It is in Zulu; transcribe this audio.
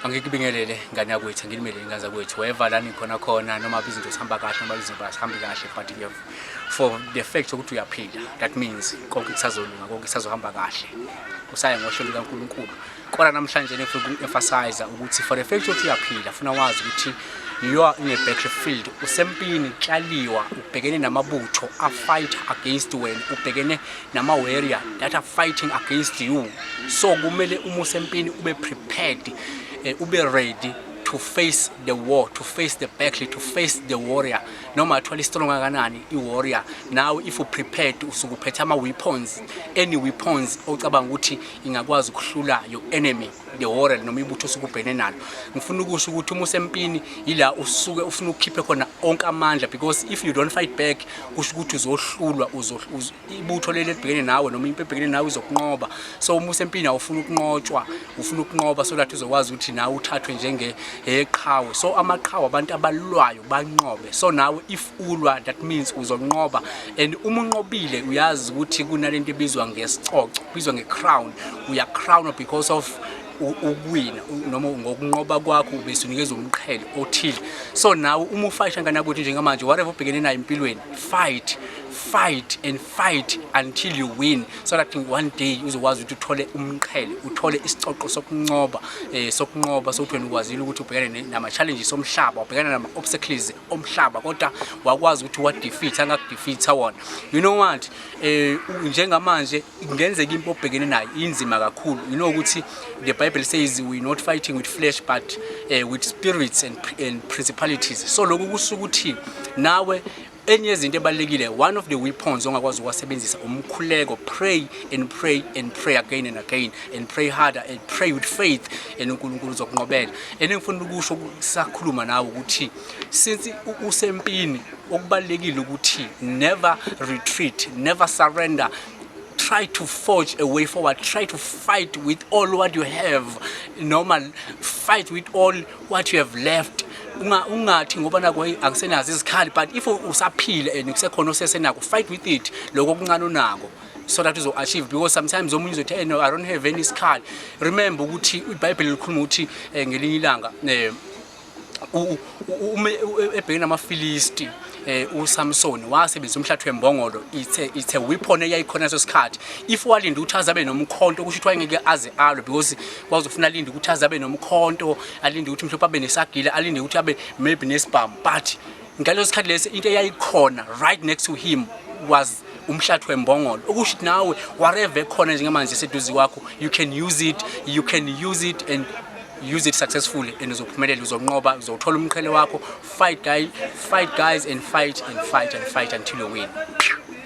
angikubingelele ngane yakwethu angilimele ingane zakwethu weva la nikhona khona noma izinto zihamba kahle noma izinto azihambi kahle but you have for the fact ukuthi uyaphila that means konke kusazolunga konke kusazohamba kahle usaye ngosho lukaNkulunkulu kodwa namhlanje nifuna uku-emphasize ukuthi for the fact ukuthi uyaphila funa wazi ukuthi you are in a battlefield usempini uklaliwa ubhekene namabutho afight against wena ubhekene nama warrior that are fighting against you so kumele uma usempini ube prepared eh, ube ready to face the war to face the battle to face the warrior noma athwala istrong kanani i warrior now if you prepared usukuphethe ama weapons any weapons ocabanga ukuthi ingakwazi ukuhlula your enemy the horror noma ibutho sikubhene nalo ngifuna ukusho ukuthi uma usempini yila usuke ufuna ukukhiphe khona onke amandla because if you don't fight back kusho ukuthi uzohlulwa ibutho leli elibhekene nawe noma impi ebhekene nawe izokunqoba so uma usempini awufuna ukunqotshwa ufuna ukunqoba so that uzokwazi ukuthi nawe uthathwe njenge eqhawe so amaqhawe abantu abalwayo banqobe so nawe if ulwa that means uzonqoba and uma unqobile uyazi ukuthi kunalento ebizwa ngesicoco kubizwa ngecrown uya crown because of ukuwina noma ngokunqoba kwakho ubesunikezwa umqhele othile so nawe uma ufayisha nganakuthi njengamanje whatever ubhekene nayo empilweni fight fight and fight until you win so that one day uzokwazi ukuthi uthole umqhele uthole isicoco sokunqoba eh sokunqoba sokuthi wena ukwazile ukuthi ubhekane nama challenges omhlaba ubhekana nama obstacles omhlaba kodwa wakwazi ukuthi wadefeatha angakudefeatha wona you know what eh njengamanje kungenzeka impi obhekene nayo inzima kakhulu you know ukuthi the bible says we not fighting with flesh but uh, with spirits and, and principalities so lokhu kusuka ukuthi nawe enye yezinto ebalekile one of the weapons ongakwazi ukwasebenzisa umkhuleko pray and pray and pray again and again and pray harder and pray with faith and uNkulunkulu uzokunqobela and engifuna ukusho sakhuluma nawe ukuthi since usempini okubalekile ukuthi never retreat never surrender try to forge a way forward try to fight with all what you have normal fight with all what you have left unga ungathi ngoba nako akusenazo izikhali but if usaphile and kusekhona osesenako fight with it lokho kuncane unako so that uzo achieve because sometimes omunye uzothi hey no i don't have any scar remember ukuthi ibhayibheli likhuluma ukuthi eh, ngelinye ilanga eh, ebhekene namafilisti eh uSamson wasebenzisa umhlathu wembongolo ithe ithe weapon eyayikhona so sikhathi if walinda ukuthi azabe nomkhonto kusho ukuthi wayengeke aze alwe because wazofuna alinda ukuthi azabe nomkhonto alinde ukuthi mhlophe abe nesagila alinde ukuthi abe maybe nesibhamu but ngaleso sikhathi lesi into eyayikhona right next to him was umhlathi wembongolo okusho ukuthi nawe whatever ekhona njengamanje seduze kwakho you can use it you can use it and use it successfully and uzophumelela uzonqoba uzothola umqhele wakho fight guy fight guys and fight and fight and fight until you win